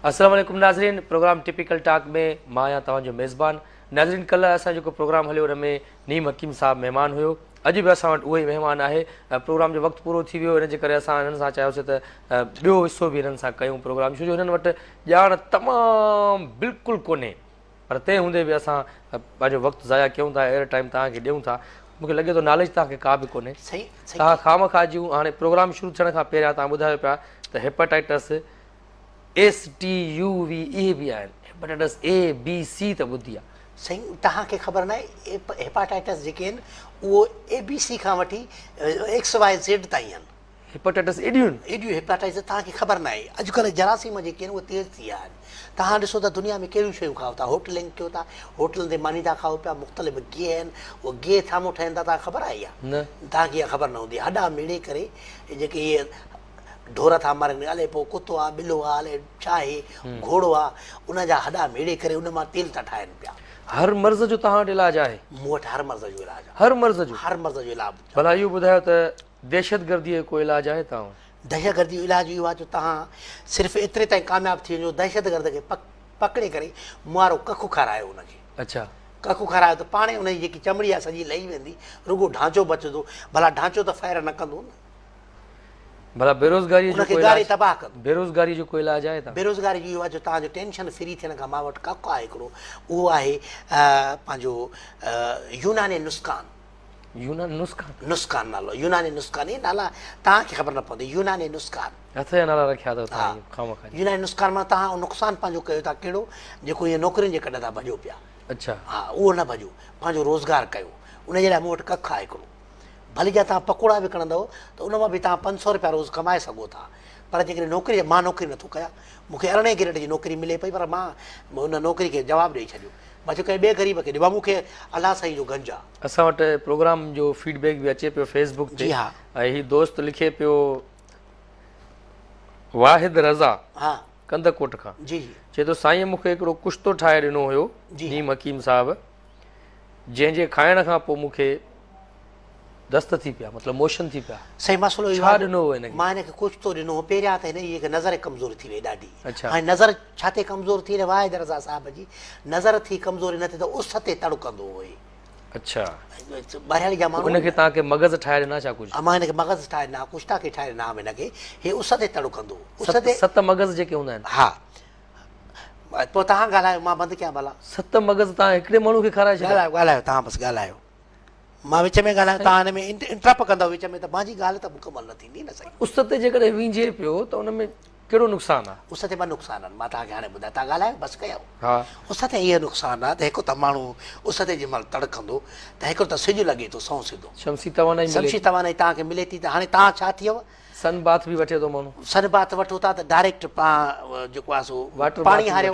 السلام عليڪم ناظرين پروگرام ٽپيڪل ٽاڪ ۾ مان آهيان توهان جو ميزبان ناظرين ڪلهه اسان جيڪو پروگرام هليو ان ۾ نيم حڪيم صاحب مهمان هيو اڄ به اسان وٽ اهو ئي مهمان آهي پروگرام جو وقت پورو ٿي ويو ان جي ڪري اسان هنن سان چاهيوسي ته ٻيو حصو به هنن سان ڪيون پروگرام ڇو جو هنن وٽ ڄاڻ تمام بلڪل ڪونهي پر تنهن هوندي به اسان پنهنجو وقت ضايع ڪيون ٿا ايئر ٽائيم توهان کي ڏيون ٿا مون کي لڳي ٿو ناليج توهان کي ڪا به ڪونهي توهان خامخواه جون هاڻي پروگرام شروع ٿيڻ کان پهريان توهان ٻڌايو پيا ته hepatitis S T U V اهي به آهن هيپاٽائٽس اي بي سي ته ٻڌي آهي سائين توهان کي خبر ناهي هيپاٽائٽس جيڪي آهن اهو اي بي سي کان وٺي ايڪس واء زيڊ تائين آهن هيپاٽائٽس ايڊيون. ايڊيون هيپاٽائٽس توهان کي خبر ناهي اڄ ڪلهه جراثيم جيڪي آهن اهي تيز ٿي ويا آهن توهان ڏسو ته دنيا ۾ ڪهڙيون شيون کائو ٿا هوٽلنگ ڪيو ٿا هوٽلن تي ماني ٿا کائو پيا مختلف گيهه آهن اهي گيهه ٿامو ٺهن ٿا توهان کي خبر آهي اها توهان کي اها خبر نه هوندي هڏا ميڙي ڪري جيڪي اهي ڍور ٿا مرن الائي پوء ڪتو آهي ٻلو آهي الائي ڇا آهي گهوڙو آهي ان جا هڏا ميڙي ڪري ان مان تيل ٿا ٺاهن پيا هر مرض جو توهان وٽ علاج آهي مون وٽ هر مرض جو علاج آهي هر مرض جو هر مرض جو علاج بلا اهو ٻڌايو ته دهشتگرديء جو ڪو علاج آهي تانء؟ دهشتگرديء جو علاج اهو آهي جو تهان صرف ايتري تائين ڪامياب ٿي وڃو دهشتگرد کي پڪڙي ڪري مئارو ڪک کارايو ان کي. اڇا. ڪک کارايو ته پاڻهي ان جي جيڪي چمڙي آهي سڄي لهي ويندي رڳو ڍانچو بچندو ڀلا ڍانچو ته فائر نه ڪندو نه. ڀلا بيروزگاريء جو ڪو علاج؟ ان کي ڳاري تباهه ڪندو. بيروزگاريء جو ڪو علاج آهي تانء؟ بيروزگاريء جو اهو آهي جو تهان جو ٽينشن فري ٿيڻ کان ما وٽ ڪک آهي هڪڙو اهو آهي پنهنجو يوناني نسخان. يوناني نسخان. نسخان نالو يوناني نسخان اهي نالا توهان کي خبر نه پوندي يوناني نسخان. هٿ جا نالا رکيا اٿو توهان اهي خامخا جي. يوناني نسخان معنيٰ توهان اهو نقصان پنهنجو ڪيو ٿا ڪهڙو جيڪو هيئن نوڪرين جي ڪڍ تان ڀڄو پيا. اڇا. ها اهو نه ڀڄو پنهنجو روزگار ڪيو ان جي لاء مون وٽ ڪک آهي هڪڙو ڀلي جا توهان پڪوڙا وڪڻندؤ ته ان مان به توهان پنج سؤ رپيا روز ڪمائي سگهو ٿا پر جيڪڏهن نوڪري مان نوڪري نٿو ڪيان مون کي ارڙهين گريڊ جي نوڪري ملي پئي پر مان ان نوڪري کي جواب ڏئي ڇڏيو بچو ڪنهن ٻئي غريب کي ڏي بابو مون کي الله سائين جو گنج آ. اسان وٽ پروگرام جو فيڊ بيڪ به اچي پيو فيس بڪ تي ۽ هي دوست لکي پيو واحد رضا ڪنڌڪوٽ کان چئي ٿو سائين مون کي هڪڙو ڪشتو ٺاهي ڏنو هيو نيم حڪيم صاحب جنهن جي کائڻ کان پوء مون کي دست ٿي پيا مطلب موشن ٿي پيا. سائين مسئلو اهو آهي جو مان هن کي ڪجهه ٿو ڏنو هو پهريان ته هن جي هڪ نظر ڪمزور ٿي وئي ڏاڍي هاڻي نظر ڇا تي ڪمزور ٿي هن واحد رضا صاحب جي نظر ٿي ڪمزور هن تي ته اس تي تڙڪندو هئي اڇا ٻاهريان جا ماڻهو هن کي تان ڪي مغز ٺاهي ڏنا ڇا ڪجهه امان کي مغز ٺاهي ڏنا ڪجهه تان ڪي ٺاهي ڏنا هن کي هي اس تي تڙڪندو اس تي ست مغز جيڪي هوندا آهن ها پوء تان ڳالهايو مان بند ڪيان ڀلا ست مغز تان هڪڙي ماڻهو کي کارائي ڇڏيا ڳالهايو ڳالهايو تان بس ڳالهايو مان وچ ۾ ڳالهايان تان هن ۾ انٽرپ ڪندا وچ ۾ ته مانجي ڳالهه ته مڪمل نه ٿيندي نه سائين اس تي جيڪڏهن وينجهي پيو ته ان ۾ ڪهڙو نقصان آ اس تي ٻه نقصان آن مان توهان کي هاڻي ٻڌايان توهان ڳالهايو بس ڪيو ها اس تي هي نقصان آ ته هڪ ته ماڻهو اس تي جنهن مهل تڙڪندو ته هڪ ته سج لڳي ٿو سنئون سڌو شمسي توانائي ملي شمسي توانائي توهان کي ملي ٿي ته هاڻي توهان ڇا ٿيو سن باٿ به وٺي ٿو ماڻهو سن باٿ وٺو ٿا ته ڊائريڪٽ پا جيڪو آ سو واٽر پاڻي هاريو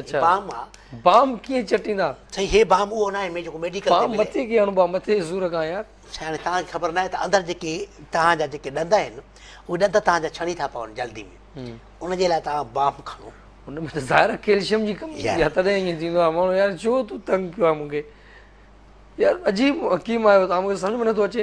اچھا بام آ بام ڪيئن چٽيندا سائين هي بام اهو ناهي مين جيڪو ميڊيڪل بام مٿي ڪيئن هڻبو آ مٿي جي سور کان يار سائين توهان کي خبر ناهي ته اندر جيڪي توهان جا جيڪي ڏند آهن اهي ڏند توهان جا ڇڻي ٿا پون جلدي ۾ ان جي لاء توهان بام کڻو ان ۾ ته ظاهر ڪيلشيم جي ڪمي يا تڏهن ائين ٿيندو آ ماڻهو يار ڇو تو تنگ ڪيو آ مونکي يار عجيب حڪيم آهيو توهان مونکي سمجھ ۾ نٿو اچي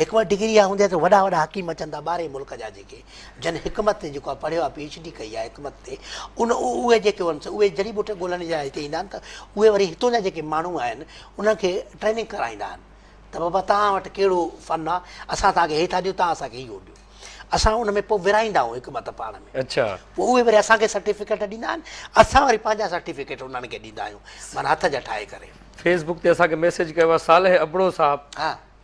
هڪ وٽ ڊگري اها هوندي آهي ته وڏا وڏا حڪيم اچن ٿا ٻاهرين ملڪ جا جيڪي جن حڪمت تي جيڪو آهي پڙهيو آهي پي ايڇ ڊي ڪئي آهي حڪمت تي ان اهي جيڪي هئن سو اهي جڙي ٻوٽي ڳولڻ جي لاء هتي ايندا آهن ته اهي وري هتون جا جيڪي ماڻهو آهن انهن کي ٽريننگ ڪرائيندا آهن ته بابا توهان وٽ ڪهڙو فن آهي اسان توهان کي هي ٿا ڏيون توهان اسان کي اهو ڏيو اسان ان ۾ پوء ورهائيندا آهيون حڪمت پاڻ ۾ اڇا پوء اهي وري اسان کي سرٽيفڪيٽ ڏيندا آهن اسان وري پنهنجا سرٽيفڪيٽ انهن کي ڏيندا آهيون معنيٰ هٿ جا ٺاهي ڪري فيس بڪ تي اسان کي ميسيج ڪيو آهي صالح ابڙو صاحب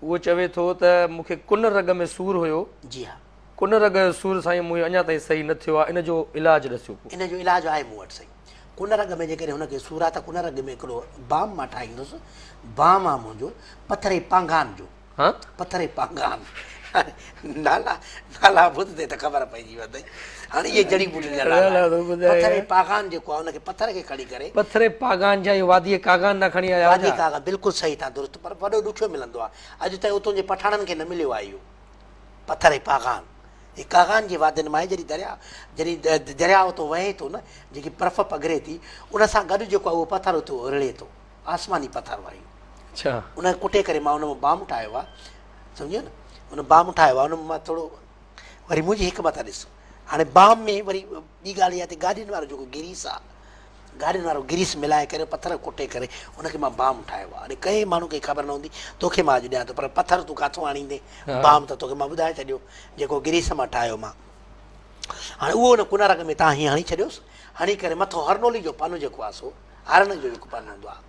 هو چوي ٿو ته مون کي ڪن رڳ ۾ سور هيو. جي ها. ڪن رڳ جو سور سائين مون کي اڃا تائين صحيح نه ٿيو آهي ان جو علاج ڏسيو ڪو. ان جو علاج آهي مون وٽ سائين. ڪن رڳ ۾ جيڪڏهن هن کي سور آهي ته ڪن رڳ ۾ هڪڙو بام مان ٺاهيندس. بام آهي منهنجو پٿري پانگان جو. ها؟ پٿري پانگان. نالا نالا ٻڌندي ته خبر پئجي ويندئي هاڻي اهي جڙي ٻوٽين جا نالا پٿري پاغان جيڪو آهي ان کي پٿر کي کڻي ڪري پٿري پاغان جا اهي وادي ڪاغان نا کڻي آيا وادي ڪاغان بلڪل صحيح تان درست پر وڏو ڏکيو ملندو آهي اڄ تائين اتون جي پٺاڻن کي نه مليو آهي اهو پٿري پاغان هي ڪاغان جي وادين مان آهي جڏهن درياء جڏهن درياء اتو وهي ٿو نه جيڪي برف پگهري ٿي ان سان گڏ جيڪو آهي اهو پٿر اتو رڙي ٿو آسماني پٿر آهي اڇا ان کي ڪٽي ڪري مان ان مان بام ٺاهيو آهي سمجهيو نه ان بام ٺاهيو آهي ان مان ٿورو وري منهنجي حڪمت آهي ڏس هاڻي بام ۾ وري ٻي ڳالهه اها ته گاڏين وارو جيڪو گريس آهي گاڏين وارو گريس ملائي ڪري پٿر ڪٽي ڪري ان کي مان بام ٺاهيو آهي هاڻي ڪئين ماڻهو کي خبر نه هوندي توکي مان اڄ ڏيان ٿو پر پٿر تون ڪاٿو آڻيندين بام ته توکي مان ٻڌائي ڇڏيو جيڪو گريس مان ٺاهيو مان هاڻي اهو ان ڪنارڪ ۾ تان هيئن هڻي ڇڏيوس هڻي ڪري مٿو هرنولي جو پن جيڪو آهي سو هارن جو جيڪو پن هوندو آهي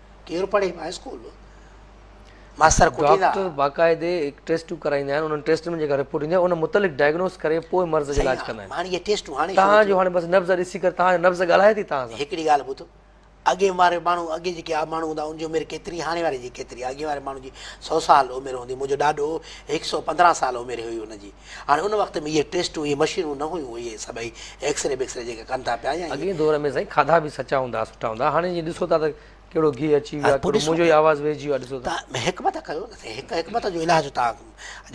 ڪير پڙهي مان اسڪول ماستر ڪٽيندا ڊاڪٽر باقاعدي ٽيسٽون ڪرائيندا آهن انهن ٽيسٽن ۾ جيڪا رپورٽ ايندي آهي ان متعلق ڊائگنوز ڪري پوء مرض جو علاج ڪندا آهن هاڻي اهي ٽيسٽون هاڻي تهان جو هاڻي بس نبض ڏسي ڪري تهان جو نبض ڳالهائي ٿي تهان سان هڪڙي ڳالهه ٻڌو اڳي واري ماڻهو اڳي جيڪي ماڻهو هوندا ان جي عمر ڪيتري هاڻي واري جي ڪيتري اڳي واري ماڻهو جي سؤ سال عمر هوندي منهنجو ڏاڏو هڪ سؤ پندرهن سال عمر هئي ان جي هاڻي ان وقت ۾ اهي ٽيسٽون اهي مشينون نه هيون اهي سڀئي ايڪسري بيڪسري جيڪي ڪن ٿا پيا يا اڳئين دور ۾ سائين کاڌا به سچا هوندا ها سٺا هوندا ها هاڻي جي ڏسو ٿا ته ڪهڙو گيهه اچي ويو آهي ڪهڙو منهنجو ئي آواز ويهجي ويو آهي ڏسو ٿا. تان حڪمت ڪيو نه سائين هڪ حڪمت جو علاج تان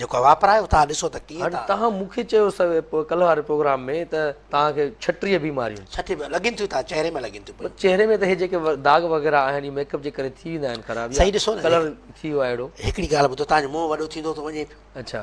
جيڪو واپرايو تان ڏسو ته ڪيئن هاڻي تان مون کي چيو سوي پوء ڪلهه واري پروگرام ۾ ته تان کي ڇٽيهه بيماريون ڇٽيهه به لڳين ٿيون تان چهري ۾ لڳين ٿيون پيون. چهري ۾ ته هي جيڪي داغ وغيره آهن اهي ميڪ اپ جي ڪري ٿي ويندا آهن خراب يا سائين ڏسو نه ڪلر ٿي ويو آهي اهڙو. هڪڙي ڳالهه ٻڌو تان جو منهن وڏو ٿيندو ٿو وڃي پيو. اڇا.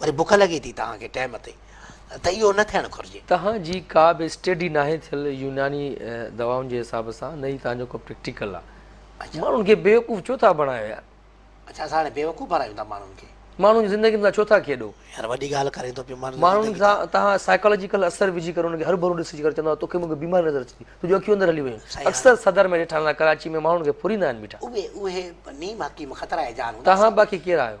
وري بک لڳي ٿي توهان کي ٽيم تي ته اهو نه ٿيڻ گهرجي. توهان جي ڪا به اسٽيڊي ناهي ٿيل يوناني دوائن جي حساب سان نه ئي توهان جو ڪو پريڪٽيڪل آ. ماڻهن کي بيوقوف ڇو ٿا بڻايو يار. اڇا اسان هاڻي بيوقوف بڻايون ٿا ماڻهن کي. ماڻهن جي زندگين سان ڇو ٿا کيڏو. يار وڏي ڳالهه ڪرين ٿو پيو ماڻهن جي زندگي سان. تهان سائيڪالاجيڪل اثر وجهي ڪري انهن کي هرو ڀرو ڏسجي ڪري چوندو توکي مونکي بيماري نظر اچي ٿي تنهنجون اکيون اندر هلي ويون آهن اڪثر صدر ۾ ڏٺا هوندا ڪراچي ۾ ماڻهن کي ڦريندا آهن بيٺا. اهي نيم حڪيم خطرائي جان هوندا. توهان باقي ڪير آهيو.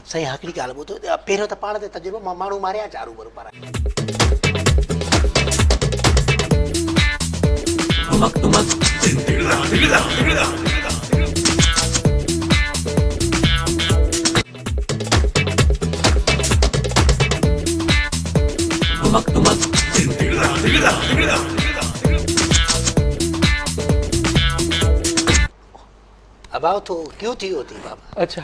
سائين ھڪڙي ڳالھ ٻڌو پھريون ته پاڻ تي تجربو مان ماڻھو ماريا چا روبرو پرايا. ابا اٿو ڪيو ٿي ويو اٿئي بابا. اڇا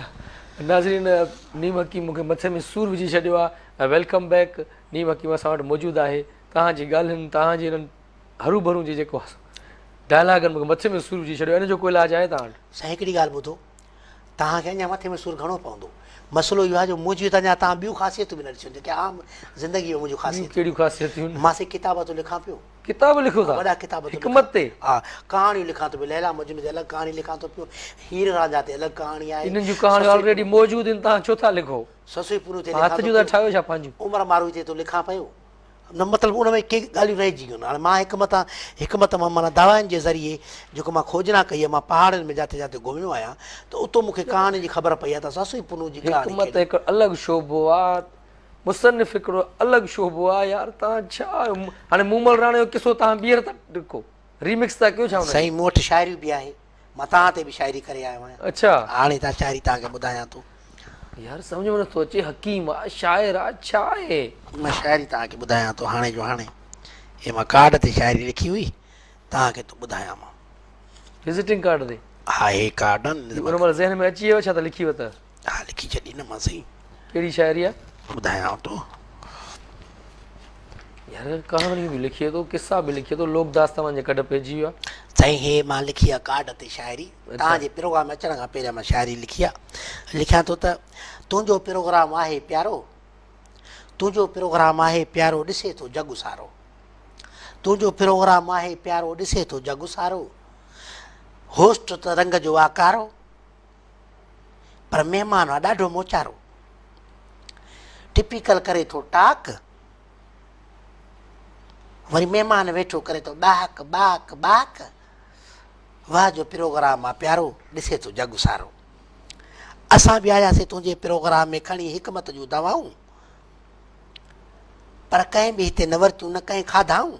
ناظرين نيم حڪيم مون کي مٿي ۾ سور وجهي ڇڏيو آ ويلڪم بيڪ نيم حڪيم اسان وٽ موجود آهي توهان جي ڳالهين توهان جي انهن هروڀرون جي جيڪو ڊائلاگن مون کي مٿي ۾ سور وجهي ڇڏيو آ ان جو ڪو علاج آهي توهان وٽ. سائين هڪڙي ڳالهه ٻڌو توهان کي اڃا مٿي ۾ سور گهڻو پوندو مسئلو اهو آ جو منهنجي هت اڃا توهان ٻيون خاصيتون به نه ڏسيون جيڪي عام زندگي ۾ منهنجون خاصيتون ڪهڙيون خاصيتون ماسي ڪتاب ته لکان پيو. ڪتاب لکيو ٿا. وڏا ڪتاب ٿو لکان. حڪمت تي. ها. ڪهاڻيون لکان ٿو پيو. ليلا مجنون تي الڳ ڪهاڻي لکان ٿو پيو. هير رانجها تي الڳ ڪهاڻي آهي. انهن جون ڪهاڻيون آلريڊي موجود آهن تان ڇو ٿا لکو. سسئي پورو تي لکان ٿو پيو. هٿ جون ٿا ٺاهيو ڇا پنهنجون. عمر ماروئي تي ٿو لکان پيو. نه مطلب ان ۾ ڪي ڳالهيون رهجي ويون. هاڻي مان حڪمت آهيان. حڪمت مان معنيٰ دواين جي ذريعي جيڪو مان کوجنا ڪئي آهي. مان پهاڙين ۾ جاٿي جاٿي گهميو آهيان ته اتو مون کي ڪهاڻين جي خبر پئي آهي ته سسئي پونو جي ڪهاڻي ڪهڙي. حڪمت هڪ الڳ شعبو آهي. مصنف هڪڙو الڳ شعبو آ يار تان ڇا هاڻي مومل راڻي جو قصو تان ٻيهر ٿا ڊڪو ريمڪس ٿا ڪيو ڇا ان جي سائين مون وٽ شاعري به آهي مان تان تي به شاعري ڪري آيو آهيان اڇا هاڻي تان شاعري تان کي ٻڌايان ٿو يار سمجھ ۾ نٿو اچي حڪيم آ شاعر آ ڇا آهي مان شاعري تان کي ٻڌايان ٿو هاڻي جو هاڻي هي مان ڪارڊ تي شاعري لکي هئي تان کي ٿو ٻڌايان مان وزيٽنگ ڪارڊ تي ها هي ڪارڊ آهن ان تي مان ذهن ۾ اچي ويو ڇا ته لکي وتئ ها لکي ڇڏي نه مان سائين ڪهڙي شاعري آ ٻڌايان تو يار ڪهاڻيون به لکي ٿو قصا به لکي ٿو لوڪ داس توهان جي ڪڍ پئجي ويو آهي سائين هي مان لکي آ ڪارڊ تي شاعري توهان جي پروگرام ۾ اچڻ کان پهريان مان شاعري لکي آ لکيان ٿو ته تنهنجو پروگرام آهي پيارو تنهنجو پروگرام آهي پيارو ڏسي ٿو جڳ سارو تنهنجو پروگرام آهي پيارو ڏسي ٿو جڳ سارو هوسٽ ته رنگ جو آ ڪارو پر مهمان هئا ڏاڍو موچارو ٽپيڪل ڪري ٿو ٽاڪ وري مهمان ويٺو ڪري ٿو ٻاهڪ ٻاهڪ ٻاهڪ واهه جو پروگرام آ پيارو ڏسي ٿو جڳ سارو اسان به آياسي تنهنجي پروگرام ۾ کڻي حڪمت جون دوائون پر ڪنهن به هتي نه ورتيون نه ڪنهن کاڌائون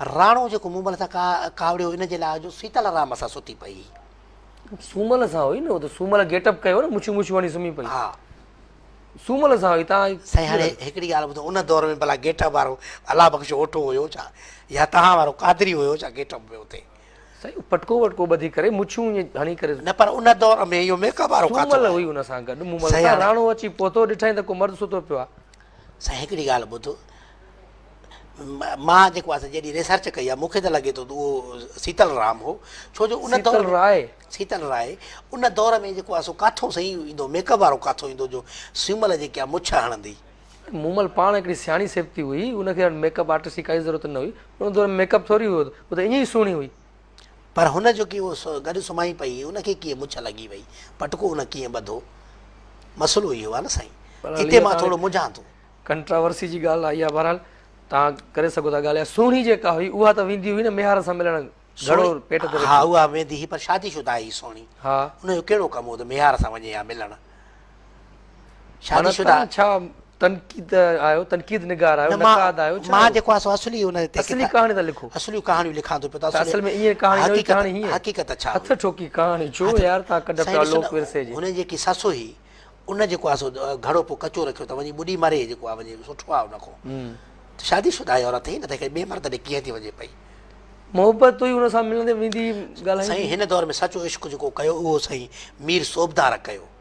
راڻو جيڪو مون مل سان ڪاوڙيو ان جي لاء جو سيتا لارام اسان ستي پئي. سومل سان هئي نه هو ته سومل گيٽ اپ ڪيو نه مڇيون مڇيون هڻي سمهي پئي. ها سومل سان هئي تان. سائين هاڻي هڪڙي ڳالهه ٻڌو ان دور ۾ ڀلا گيٽ اپ وارو الله بخش اوٺو هيو ڇا يا توهان وارو قادري هيو ڇا گيٽ اپ ۾ اتي. سائين پٽڪو وٽڪو ٻڌي ڪري مڇيون ائين هڻي ڪري. نه پر ان دور ۾ اهو ميڪ اپ وارو ڪاٿو. سومل هئي ان سان گڏ مون مل سان راڻو اچي پهتو ڏٺائين ته ڪو مرد ستو پيو آ. سائين هڪڙي ڳالهه ٻڌ مان جيڪو آسان جيڏي ريسرچ ڪئي آ مون کي ته لڳي ٿو ته اهو سيتل رام هو ڇو جو ان دور سيتل راء سيتل راء ان دور ۾ جيڪو آسو ڪاٿو سائين ايندو ميڪ اپ وارو ڪاٿو ايندو جو سيمل جي ڪيا مڇ هڻندي مومل پاڻ هڪڙي سياڻي سيبتي هئي ان کي ميڪ اپ آرٽسٽ جي ڪائي ضرورت نه هئي ان دور ۾ ميڪ اپ ٿوري هيو هو ته ايئن ئي سهڻي هئي پر هن جو ڪي اهو گڏ سمهائي پئي ان کي ڪيئن مڇ لڳي وئي پٽڪو ان کي ڪيئن ٻڌو مسئلو اهو آهي نه سائين هتي مان ٿورو منجهان ٿو. ڪنٽراورسي جي ڳالهه آئي آهي بهرحال توهان ڪري سگهو ٿا ڳالهه سهڻي جيڪا هئي اها ته ويندي هئي نه ميهار سان ملڻ گهڙو پيٽ تي رکي ها اها ويندي هئي پر شادي شده هئي سهڻي ها ان جو ڪهڙو ڪم هو ته ميهار سان وڃي ها ملڻ شادي شده. معنيٰ ڇا تنقيد آهيو، تنقيد نگار آهيو، نقاد آهيو، ڇا آهيو؟ مان جيڪو آهيان سو اصلي ان تي. اصلي ڪهاڻي ٿا لکو. اصليون ڪهاڻيون لکان ٿو پيو ته اصل ۾ ائين ڪهاڻي نه هئي، ڪهاڻي هيئن. حقيقت ڇا هئي؟ هٿ ٺوڪي ڪهاڻي ڇو يار تان ڪڍ پيا لوڪ ورثي جي. هن جيڪي سس هئي ان جيڪو آهي سو گهڙو پو ڪچو رکيو ته وڃي ٻڏي مري جيڪو آهي وڃي سٺو آهي ان کون ته شادي شده آهي عورت هي نه ته هڪڙي ٻئي مرد ڏي ڪيئن ٿي وڃي پئي. محبت هئي ان سان ملندي ويندي ڳالهائيندي. سائين هن دور ۾ سچو عشق جيڪو ڪيو اهو سائين مير صوبدار ڪيو.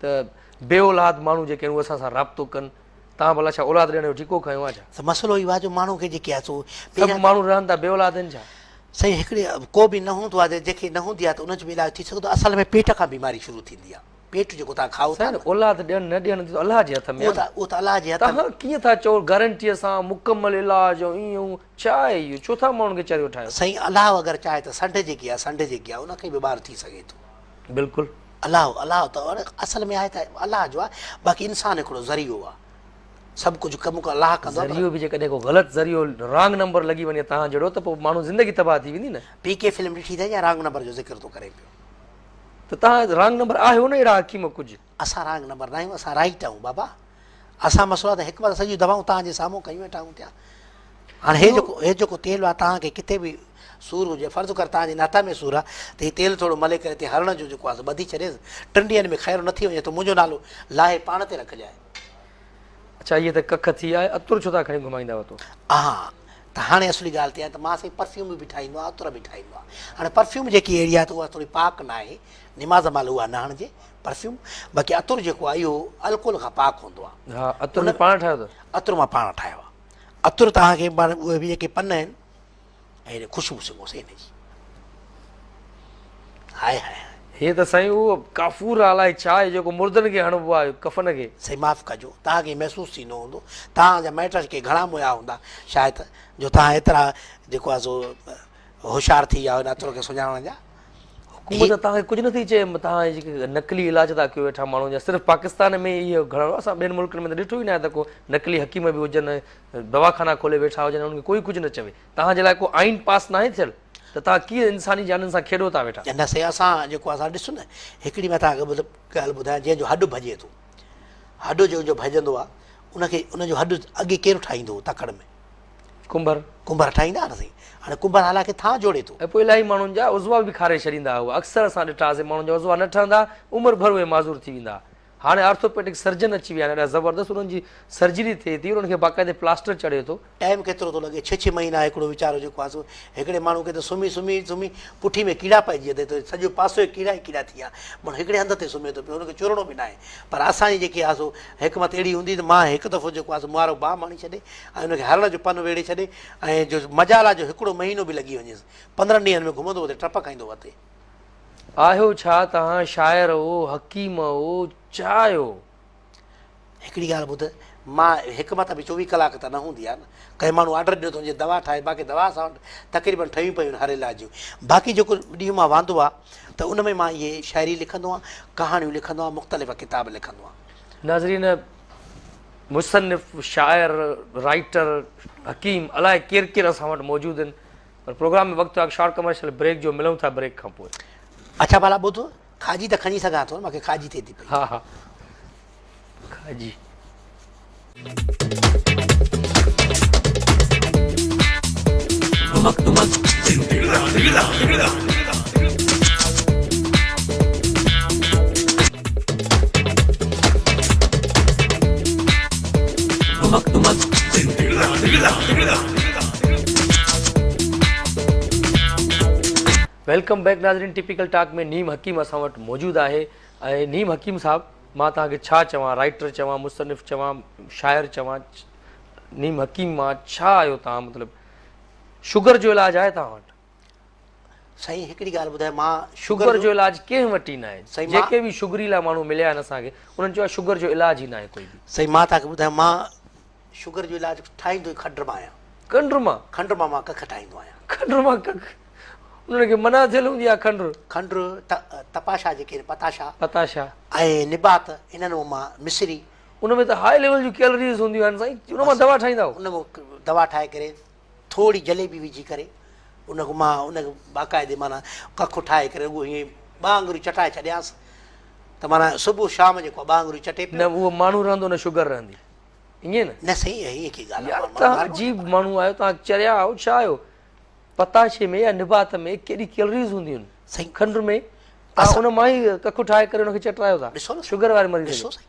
ته بي اولاد ماڻهو جيڪي آهن اهي اسان سان رابطو ڪن تان ڀلا ڇا اولاد ڏيڻ جو ٺيڪو کنيو آهي ڇا؟ سائين مسئلو اهو آهي جو ماڻهو کي جيڪي آهي سو سڀ ماڻهو رهن ٿا بي اولاد آهن ڇا؟ سائين هڪڙي ڪو به نه هوندو آهي جيڪي نه هوندي آهي ته ان جو به علاج ٿي سگهندو آهي اصل ۾ پيٽ کان بيماري شروع ٿيندي آهي پيٽ جيڪو تان کائو ٿا سائين اولاد ڏيڻ نه ڏيڻ ته الله جي هٿ ۾ آهي اهو ته الله جي هٿ ۾ تان ڪيئن ٿا چئو گارنٽي سان مڪمل علاج ۽ ايئن اهو ڇا آهي اهو ڇو ٿا ماڻهن کي چريو ٺاهيو؟ سائين الله اگر چاهي ته سنڍ جيڪي آهي سنڍ جيڪي آهي ان کان به ٻار ٿي سگهي ٿو. بلڪل. الله الله ته اصل ۾ آهي ته الله جو آهي باقي انسان هڪڙو ذريعو آهي سڀ ڪجهه ڪم ڪو الله ڪندو آهي ذريعو به جيڪڏهن ڪو غلط ذريعو رانگ نمبر لڳي وڃي توهان جهڙو ته پوء ماڻهو زندگي تباهه ٿي ويندي نه پي ڪي فلم ڏٺي اٿئي جا رانگ نمبر جو ذڪر ٿو ڪري پيو ته توهان رانگ نمبر آهيو نه اهڙا حڪيم ڪجهه اسان رانگ نمبر ناهيون اسان رائيٽ آهيون بابا اسان مسئلو ته هڪ بار سڄيون دواون توهان جي سامهون ڪيون ويٺا آهيون پيا هاڻي هي جو هي جو ڪو تيل آ توهان کي ڪٿي به سور هجي فرض ڪر توهان جي ناتا ۾ سور آ ته هي تيل ٿورو ملي ڪري تي هرڻ جو جيڪو آ سو ٻڌي ڇڏيس ٽن ڏينهن ۾ خيرو نه ٿي وڃي ته منهنجو نالو لاهي پاڻ تي رکجاء. اڇا هيء ته ڪک ٿي آء عطر ڇو ٿا کڻي گهمائيندا هئا تو. اها ته هاڻي اصلي ڳالهه ٿي آهي ته مان سائين پرفيوم به ٺاهيندو آهيان عطر به ٺاهيندو آهيان هاڻي پرفيوم جيڪي اهڙي آهي ته اها ٿوري پاڪ ناهي نماز مهل اها نه هڻجي پرفيوم باقي عطر جيڪو آهي اهو الڪوهل کان پاڪ هوندو آهي ها عطر ان- ۾ پاڻ ٺاهيو اٿس عطر مان پاڻ ٺاهيو آهي عطر توهان کي پاڻ اهي به جيڪي پن آهن ۽ هن خوشبو سگهو سائين هن جي هاء هاء هاء هي ته سائين اهو ڪافور آ الائي ڇا آهي جيڪو مردن کي هڻبو آهي ڪفن کي سائين معاف ڪجو توهان کي محسوس ٿيندو هوندو توهان جا مائٽ جيڪي گهڻا موهيا هوندا شايد جو توهان ايترا جيڪو آهي سو هوشيار ٿي ويا هن عطرو کي سڃاڻڻ جا. حڪومت توهان کي ڪجهه نٿي چئي توهان هي جيڪي نقلي علاج ٿا ڪيو ويٺا ماڻهن جا صرف پاڪستان ۾ ئي اهو گهڻو اسان ٻين ملڪن ۾ ته ڏٺو ئي ناهي ته ڪو نقلي حڪيم به هجن دواخانا کولي ويٺا هجن انهن کي ڪوئي ڪجهه نه چوي توهان جي لاء ڪو آئين پاس ناهي ٿيل ته توهان ڪيئن انساني جانن سان کيڏو ٿا ويٺا. نه سائين اسان جيڪو اسان ڏس نه هڪڙي مٿان کي مطلب ڳالهه ٻڌايان جنهن جو هڏ ڀڄي ٿو هڏ جنهن جو ڀڄندو آهي ان کي ان جو هڏ اڳي ڪير ٺاهيندو هو تڪڙ ۾ ڪنڀر. ڪنڀر ٺاهيندا ها نه سائين. هاڻي ڪنڀر هالا کي ٿانء جوڙي ٿو. ۽ پوء الاهي ماڻهن جا عضوا به کاري ڇڏيندا هئا. اڪثر اسان ڏٺا آسي ماڻهن جا عضوا نه ٺهندا، عمر ڀر اهي معذور ٿي ويندا. هاڻي آرٿوپيڊڪ سرجن اچي ويا آهن، ايڏا زبردست انهن جي سرجري ٿئي ٿي، انهن کي باقاعدي پلاسٽر چڙهي ٿو. ٽائيم ڪيترو ٿو لڳي، ڇهه ڇهه مهينا هڪڙو ويچارو جيڪو آهي سو هڪڙي ماڻهو کي ته سمهي سمهي سمهي پٺي ۾ ڪيڙا پئجي ويا اٿئي، سڄو پاسو ئي ڪيڙا ئي ڪيڙا ٿي ويا، ماڻهو هڪڙي هنڌ تي سمهي ٿو پيو، ان کي چورڻو به ناهي. پر اسان جي جيڪي آهي سو حڪمت اهڙي هوندي ته مان هڪ دفعو جيڪو آهي سو مهارو باهه ماڻي ڇڏي، ۽ ان کي هرڻ جو پن ويڙهي ڇڏي ۽ جو مجالا جو هڪڙو مهينو به لڳي وڃيس، پندرهن ڏينهن ۾ گهمندو اتي ٽپ کائيندو وتي. آهيو ڇا توهان شاعر او حڪيم او ڇا آهيو؟ هڪڙي ڳالهه ٻڌ، مان حڪمت به چوويهه ڪلاڪ ته نه هوندي آهي نه. ڪنهن ماڻهو آرڊر ڏنو ته ان جي دوا ٺاهي، باقي دوا اسان وٽ تقريبن ٺهيون پيون آهن هر علاج جون. باقي جيڪو ڏينهن مان واندو آ ته ان ۾ مان اهي شاعري لکندو آهيان، ڪهاڻيون لکندو آهيان، مختلف ڪتاب لکندو آهيان. ناظرين! مصنف، شاعر، رائيٽر، حڪيم الائي ڪير ڪير اسان وٽ موجود آهن پر پروگرام ۾ وقت آهي شارٽ ڪمرشل بريڪ جو ملون ٿا بريڪ کان پوء. اڇا ڀلا ٻڌ کاڄي ته کڻي سگهان ٿو مونکي کاڄي ٿئي ٿي پئي. ها ها کاڄي. ڌمڪ ڌمڪ ڌم ڌڙڪا ڌڙڪا ڌڙڪا. ويلڪم بيڪ ناظرين ٽيپيڪل ٽاڪ ۾ نيم حڪيم اسان وٽ موجود آهي ۽ نيم حڪيم صاحب مان توهان کي ڇا چوان رائٽر چوان مصنف چوان شاعر چوان نيم حڪيم مان ڇا آهيو توهان مطلب شگر جو علاج آهي توهان وٽ سائين هڪڙي ڳالهه ٻڌايو مان شگر جو علاج ڪنهن وٽ ئي ناهي سائين جيڪي به شگري لا ماڻهو مليا آهن اسان کي انهن چيو شگر جو علاج ئي ناهي ڪوئي به سائين مان تاکي ٻڌايو مان شگر جو علاج ٺاهيندو ئي کنڊ مان آهيان کنڊ مان کنڊ مان مان ڪک ٺاهيندو آهيان کنڊ مان ڪک انهن کي منع ٿيل هوندي آهي کنڊ کنڊ تپاشا جيڪي آهن پتاشا پتاشا ۽ نبات انهن مان مان مصري ان ۾ ته هاء ليول جون ڪيلريز هونديون آهن سائين ان مان دوا ٺاهيندا ان مان دوا ٺاهي ڪري ٿورڙي جليبي وجهي ڪري ان کي مان ان کي باقاعدي معنيٰ ڪک ٺاهي ڪري رڳو هيئن ٻه آڱريون چٽائي ڇڏيانس ته معنيٰ صبح شام جيڪو ٻه آڱريون چٽي پيو. نه اهو ماڻهو رهندو نه شگر رهندي ائين نه. نه سائين ائين ڪي ڳالهه يار توهان عجيب ماڻهو آهيو توهان چريا آهيو ڇا آهيو پتاشي ۾ يا نبات ۾ ڪيڏي ڪيلريز هونديون آهن سائين کنڊ ۾ توهان ان مان ئي ڪک ٺاهي ڪري ان کي چٽرايو ٿا ڏسو نه شگر واري مريض کي ڏسو سائين.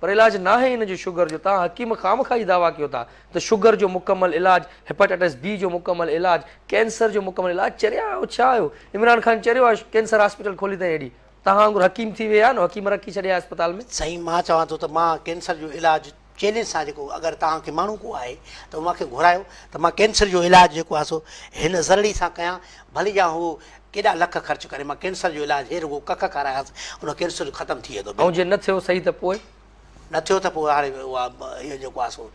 پر علاج ناهي ان جو شگر جو، توهان حڪيم خامخواه هي دعويٰ ڪيو ٿا ته شگر جو مڪمل علاج، هيپاٽائٽس بي جو مڪمل علاج، ڪينسر جو مڪمل علاج چريا آهيو ڇا آهيو، عمران خان چريو آهي ڪينسر هاسپيٽل کولي تائين هيڏي توهان وانگر حڪيم ٿي ويهي آهيو نه حڪيم رکي ڇڏيا آهي اسپتال ۾. سائين مان چوان ٿو ته مان ڪينسر جو علاج چئلينج سان جيڪو اگر توهان کي ماڻهو ڪو آهي ته اوهان کي گهرايو ته مان ڪينسر جو علاج جيڪو آهي سو هن زرڙي سان ڪيان ڀلي جا هو ڪيڏا لک خرچ ڪري مان ڪينسر جو علاج هي رڳو ڪک کارايانس ان ڪينسر ختم ٿي ويندو ۽ جي نه ٿيو صحيح ته پوء؟ نه ٿيو ته پوء هاڻي اها اهو جيڪو آهي سو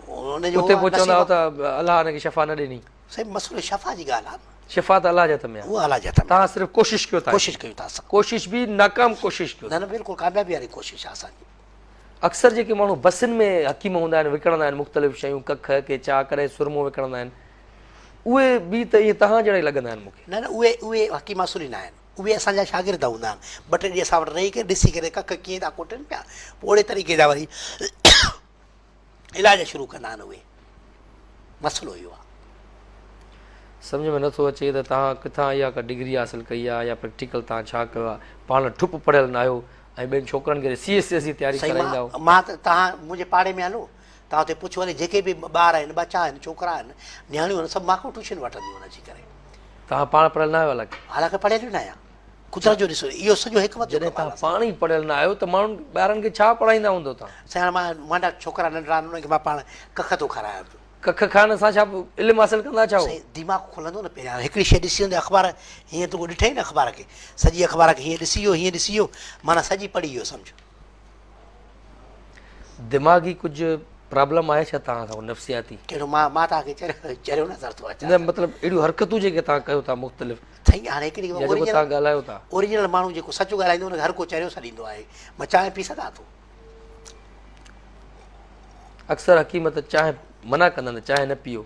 ان جو اتي پوء چوندا هئا ته الله هن کي شفا نه ڏني. سائين مسئلو شفا جي ڳالهه آهي. شفا ته الله جي هٿ ۾ آهي. اها الله جي هٿ ۾ آهي. تهان صرف ڪوشش ڪيو ٿا. ڪوشش ڪيو ٿا اسان. ڪوشش به ناڪام ڪوشش ڪيو ٿا. نه نه بلڪل ڪاميابي واري ڪوشش آهي اسان جي. اڪثر جيڪي ماڻهو بسن ۾ حڪيم هوندا آهن وڪڻندا آهن مختلف شيون ڪک، ڪي چاء ڪڏهن سرمو وڪڻندا آهن. اهي ٻي ته ائين توهان جهڙا ئي لڳندا آهن مون کي. نه نه اهي اهي حڪيم اصولي ناهن اهي اسان جا شاگرد هوندا آهن ٻه ٽي ڏينهن اسان وٽ رهي ڪري ڏسي ڪري ڪک ڪيئن ٿا ڪوٽين پيا پوء اهڙي طريقي جا وري علاج شروع ڪندا آهن اهي مسئلو اهو آهي. سمجهه ۾ نٿو اچي ته توهان ڪٿان اها ڪا ڊگري حاصل ڪئي آهي يا پريڪٽيڪل توهان ڇا ڪيو آهي پاڻ ٺپ پڙهيل ناهيو ۽ ٻين ڇوڪرن کي ٽي ايس ايس جي تياري ڪرائيندا آهيو. سائين مان مان ته توهان منهنجي پاڙي ۾ هلو توهان اتي پڇو هلي جيڪي به ٻار آهن ٻچا آهن ڇوڪرا آهن نياڻيون آهن سڀ مانکون ٽيوشن وٺنديون آهن اچي ڪري. توهان پاڻ پڙهيل ناهيو حالانڪ. حالانڪ پڙهيل ئي ناهيان قدرت جو ڏسو اهو سڄو حڪمت جو ڪم آهي. جڏهن توهان پاڻ ئي پڙهيل نه آهيو ته ماڻهن ٻارن کي ڇا پڙهائيندا هوندو توهان. سائين هاڻي مان مانڊا ڇوڪرا ننڍڙا آهن انهن کي مان پاڻ ڪک ٿو کارايان پيو. ڪک کائڻ سان ڇا علم حاصل ڪندا ڇا هو. سائين ديماغ کلندو نه پهريان هڪڙي شيء ڏسي هوندي اخبار هيئن تون ڏٺئي نه اخبار کي سڄي اخبار کي هيئن ڏسي ويو هيئن ڏسي ويو معنيٰ سڄي پڙهي ويو سمجهه. دماغي ڪجھ پرابلم آهي ڇا توهان سان نفسياتي ڪهڙو مان مان توهان کي چريو چريو نظر ٿو اچان نه مطلب اهڙيون حرڪتون جيڪي توهان ڪيو ٿا مختلف سائين هاڻي هڪ ڏينهن جيڪو تان ڳالهايو ٿا اوريجنل ماڻهو جيڪو سچ ڳالهائيندو ان کي هر ڪو چريو سڏيندو آهي مان چانهه پي سگهان ٿو اڪثر حڪيمت چانهه منع ڪندا آهن چانهه نه پيو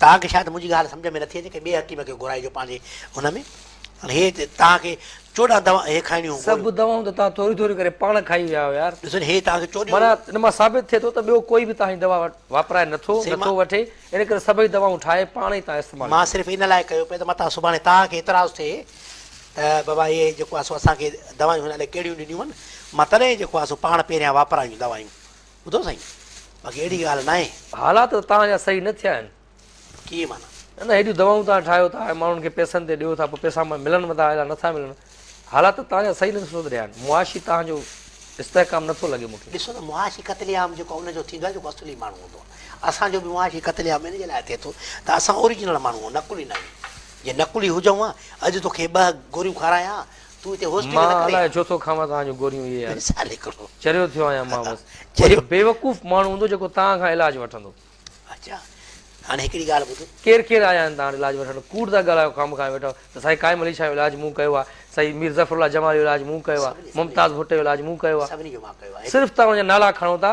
توهان کي شايد منهنجي ڳالهه سمجهه ۾ نٿي اچي، ڪنهن ٻئي حڪيم کي گهرائجو پنهنجي هن ۾. هي توهان کي چوڏهن دوائون هي کائڻيون هيون گوليون. سڀ دوائون ته توهان ٿوريون ٿوريون ڪري پاڻ کائي ويا آهيو يار. ڏسو هي توهان کي چوڏهن. معنيٰ ان مان ثابت ٿئي ٿو ته ٻيو ڪوئي به توهان جي دوا واپرائي نٿو، نٿو وٺي، ان ڪري سڀئي دوائون ٺاهي پاڻ ئي توهان استعمال ڪريو. مان صرف ان لاء ڪيو پئي ته متان سڀاڻي توهان کي اعتراض ٿئي ته بابا هي جيڪو آهي سو اسان کي دوائون هن علي ڪهڙيون ڏنيون هن، مان تڏهن جيڪو آهي سو پاڻ پهريان واپرايون دوائون. ٻڌو سائين باقي اهڙي ڳالهه ناهي. حالات ته توهان جا صحيح نه ٿيا آهن. ڪيئن معنيٰ؟ نه نه هيڏيون دوائون توهان ٺاهيو ٿا ۽ ماڻهن کي پئسن تي ڏيو ٿا پوء پئسا ملن به ٿا الا نٿا ملن حالات ته توهان جا صحيح نه سڌريا آهن معاشي توهان جو استحڪام نٿو لڳي مون کي. ڏسو ته معاشي قتل عام جيڪو ان جو ٿيندو آهي جيڪو اصلي ماڻهو هوندو آهي اسان جو به معاشي قتل عام ان جي لاء ٿئي ٿو ته اسان اوريجنل ماڻهو نقلي ناهيون جي نقلي هجون ها اڄ توکي ٻه گوريون کارايان ها مان الائي ڇو ٿو کاوان توهان جون گوريون اهي يار چريو ٿيو آهيان مان بس ڪو بيوقوف ماڻهو هوندو جيڪو توهان کان علاج وٺندو ڪير ڪير آيا آهن توهان وٽ علاج وٺڻ ڪوڙ ٿا ڳالهايو خامخا ويٺا آهيو ته سائين قائم علي شاهه جو علاج مون ڪيو آهي سائين مير ظفرالله جمال جو علاج مون ڪيو آهي ممتاز ڀٽي جو علاج مون ڪيو آهي صرف توهان جا نالا کڻو ٿا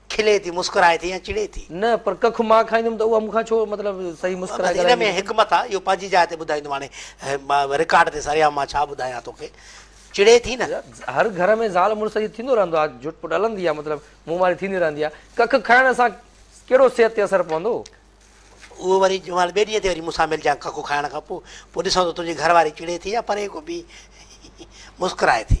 کلي ٿي، مسڪرائي ٿي يا چڙي ٿي؟ نه پر ڪک مان کائيندم ته اها مون کان ڇو مطلب صحيح مسڪرائي ڪرائيندي؟ ان ۾ حڪمت آ، اهو پنهنجي جاء تي ٻڌائيندم هاڻي رڪارڊ تي سرعام مان ڇا ٻڌايان توکي، چڙي ٿي نه؟ هر گهر ۾ زال مڙس جي ٿيندو رهندو آ، جهٽ پٽ هلندي آ، مطلب منهن ماري ٿيندي رهندي آ، ڪک کائڻ سان ڪهڙو صحت تي اثر پوندو؟ اهو وري جنهن مهل ٻئي ڏينهن تي وري مون سان ملجانء ڪک کائڻ کان پوء، پوء ڏسون ته تنهنجي گهر واري چڙي ٿي يا پري ڪو ٻي مسڪرائي ٿي.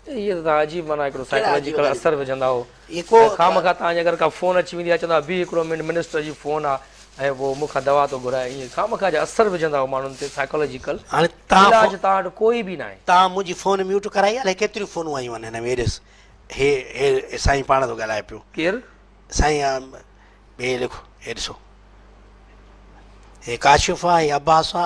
اهي ته توهان عجيب معنيٰ هڪڙو سائيڪالاجيڪل اثر وجهندا هو ۽ خامخواه توهان جي اگر ڪا فون اچي ويندي ها چوندا ها بيهه هڪڙو منٽ منسٽر جي فون آ ۽ پوء مون کان دوا ٿو گهرائي ائين خامخواه جا اثر وجهندا هو ماڻهن تي سائيڪالاجيڪل علاج توهان وٽ ڪوئي به ناهي. توهان منهنجي فون ميوٽ ڪرائي الائي ڪيتريون فونون آيون آهن هن ۾ ايڏس هي هي سائين پاڻ ٿو ڳالهائي پيو. ڪير؟ سائين آ هي لکو هي ڏسو هي ڪاشف آ هي عباس آ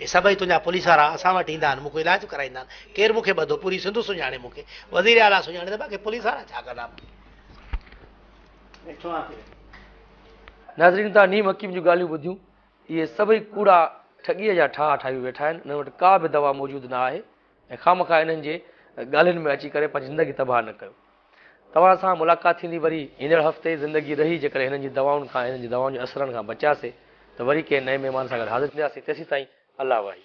هي سڀئي تنهنجا پوليس وارا اسان وٽ ايندا آهن، مون کان علاج ڪرائيندا آهن. ڪير مون کي ٻڌو؟ پوري سنڌ سڃاڻي مون کي. وزير اعليٰ سڃاڻي ته باقي پوليس وارا ڇا ڪندا مون کي؟ ناظرين توهان نيم حڪيم جون ڳالهيون ٻڌيون. اهي سڀئي ڪوڙا ٺڳيء جا ٺاها ٺاهيون ويٺا آهن. انهن وٽ ڪا به دوا موجود نه آهي ۽ خامخواه انهن جي ڳالهين ۾ اچي ڪري پنهنجي زندگي تباهه نه ڪيو. توهان سان ملاقات ٿيندي وري ايندڙ هفتي زندگي رهي جيڪڏهن هنن جي دوائن کان هنن جي دوائن جي اثرن کان بچياسي ته وري ڪنهن نئين مهمان سان گڏ حاضر ٿيندياسي تيسين تائين الله واهي.